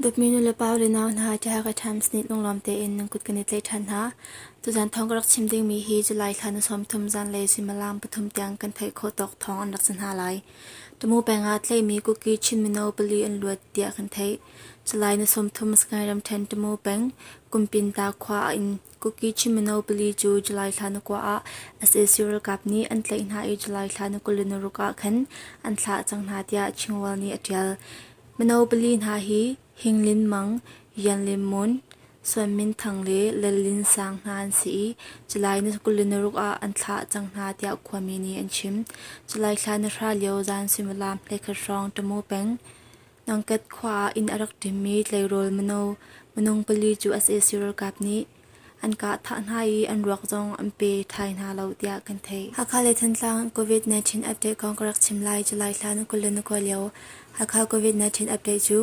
Dawtmi nu le pau le nau hna tiah ka times nih lunglam tein nan kut kan i tlaih ṭhan hna. Tuzan thawng ka rak chim dingmi hi July thla ni sawm thum zan le suimilam pathum tiang kan theih khawh tawk thawng an rak si hna lai. Tamu peng ah tleimi kuki Chin mino pali an luat tiah kan theih. Salai ni sawmthum Sagaing ramṭhen Tamu peng Kumpinta khua ah in kuki Chin mino pali cu July thla na kua ah sac ralkap nih an tlaih hna i July thla na kul in na ruk ah khan an thlah cang hna tiah Chingwell nih a ṭial. Mino pali hna hi Hing Lin Mang, Yan Lin Mun, Suan Min Thang le Lal Lin Sang hna an si i July ni kul le naruk ah an thlah cang hna tiah khuami nih an chim. July thla na hra lio zan suimilam hleikhat hrawng Ṭamu peng Nangket khua ah inn a rak ṭimmi tleirawl mino minung pali cu sac ralkap nih An kah thah hna i an ruak zong an pe thai hna lo tiah kan theih. Hakha le Thantlang COVID-19 update kong ka rak chim lai. July thla na kul le na kawi lio Hakha COVID-19 update cu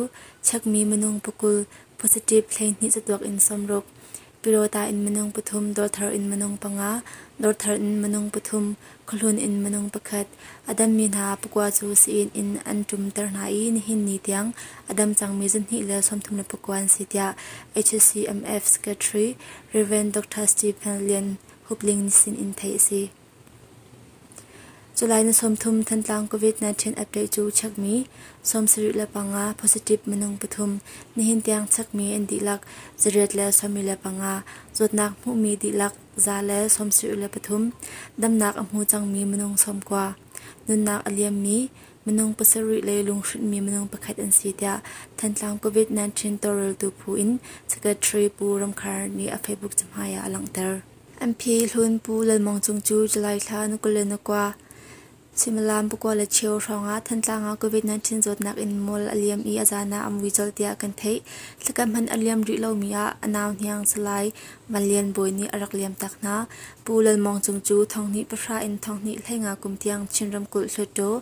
chekmi minung pakul positive hleihnih catuak in sawmruk, Pyrawta in minung pathum, Dawrthar in minung panga, Dawrthar in minung pathum, Khuahlun in minung pakhat a dammi hna pakua cu sii in an ṭumter hna i nihin ni tiang a dam cangmi zarhhnih le sawmthum le pakua an si tiah HCMF Secretary Rev. Dr. Stephen Lian Hup Ling nih sin in theih a si. July ni sawmthum Thantlang COVID-19 update cu chekmi sawmsarih le panga positive minung pathum nihin tiang chekmi an dihlak zariat le sawmi le panga zawtnak hmuhmi dihlak Za le sawmsarih le pathum Damnak a hmu cangmi minung sawmkua Nunnak a liammi minung pasarih le lunghrinhmi minung pakhat an si tiah Thantlang COVID-19 tawlreltu phu in Secretary Pu Ramkhar nih a Facebook cahmai ah a langhter. MP Hlun Pu Lalmawng Cung cu July thla ni kul le ni kua Suimilam pakua le cheu hrawngah Thantlang ah COVID-19 zawtnak in mual a liam i a zaan ah a mui colh tiah kan theih. Thlakam hman a liam rih lomi ah a nau hniang Salai Van Lian Bawi nih a rak liam tak hna. Pu Lal Mawng Cung cu thawnghnih pahra in thawnghnih hleinga kum tiang Chin ramkulh hluttaw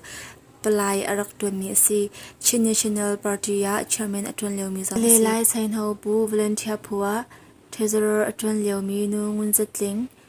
palai a rak ṭuanmi a si. Chin National Party ah chairman a ṭuan liomi zong a si. Le Lai Sainho Pu Volunteer Phua, treasurer a ṭuan liomi Nu Ngun Za Tling,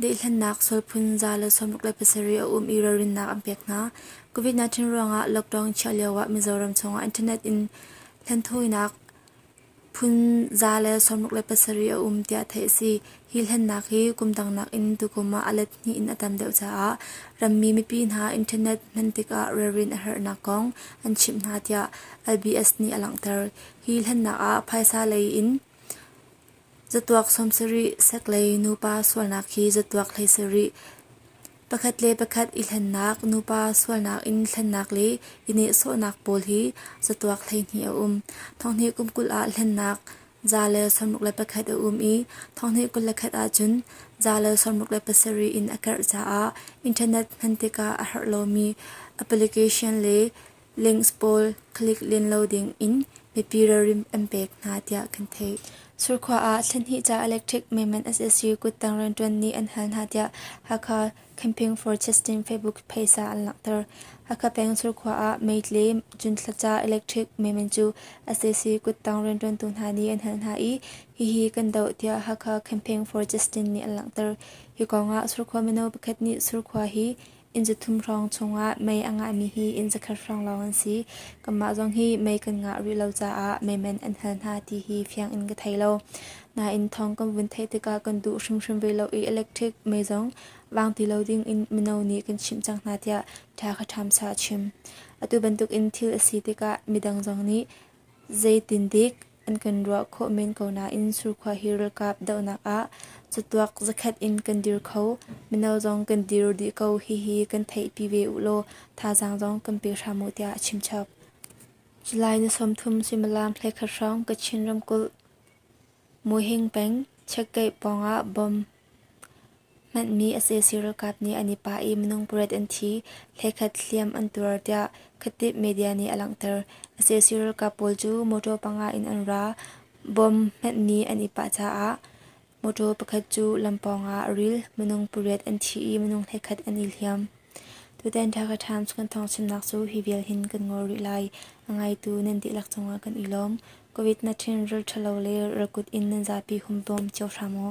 Daihhlannak, sual phun za le sawmruk le pasarih a um i ralrinnak an pek hna. COVID-19 ruangah lockdown chiah lioah Mizoram chungah internet in hlanthawinak phun za le sawmruk le pasarih a um tiah theih a si. Hi hlennak hi kum dang nakin tukum ah a let hnih in a tam deuh caah rammi mipi hna internet hman tikah ralrin a herhnak kong an chimh hna tiah LBS nih a langhter. Hi hlennak ah phaisa lei in Catuak sawmsarih, seklei nupa sualnak khi catuak hleisarih, pakhat le pakhat i hlennak, nupa sualnak in hlennak le i nehsawhnak pawl hi catuak hleihnih a um. Thonghnih kum kul ah hlennak za le sawmruk le pakhat a um i thonghnih kul le khat ahcun za le sawmruk le pasarih in a karh caah internet hman tikah a herh lomi application le Links pawl click len lo ding in mipi ralrin an pek hna tiah kan theih. Surkhua ah thlenhnih ca electric maiman SSC kuttang rianṭuan nih an hal hna tiah Hakha Campaign for Testing Facebook phaisa an langhter. Hakha peng Surkhua ah meitle cunthla ca electric maiman cu SSC kuttang rianṭuantu hna nih an hal hna i hihi kan doh tiah Hakha Campaign for Testing nih an langhter. Hi kongah Surkhua mino pakhat nih Surkhua hi Inn zathum hrawng chungah mei a ngahmi hi inn zakhat hrawng lawng an si. Kanmah zong hi mei kan ngah rih lo caah meiman an hal hna ti hi fiang in ka thei lo. Nain thawng kan vun theih tikah kan duh hrimhrim ve lo i electric mei zong vang ti lo ding in mino nih kan chimh cang hna tiah ṭha kha ṭhamsa a chim. Atu bantuk in thil a si tikah midang zong nih zeitindik An kan ruah khawh men ko nain surkhua hi ralkap dohnak ah catuak zakhat in kan dir kho. Mino zong kan dir dih ko hihi kan theihpi ve u law thazaang zong kan pe hram u tiah a chimchap. July ni sawmthum suimilam hlekhat hrawng Kachin ramkulh Muhing peng Chiakkaih pawngah bomb Hmanhmi sac ralkap nih an i pah i minung pariat an thi, hlekhat hliam an tuar tiah Khatib media nih a langhter. sac ralkap pawl cu motor panga in an ra. Bomb hmanhmi an i pah caah motor pakhat cu lam pawng ah a ril. Minung pariat an thi i minung hlekhat an i hliam. Tutan Dhaka Times kan thawngchimnak cu hi vial hin kan ngol rih lai. A ngaitu nan dihlak cungah kan i lawm. Covid-19 ralṭhalo le ralkut in nan zapi hum bawm cio hram u.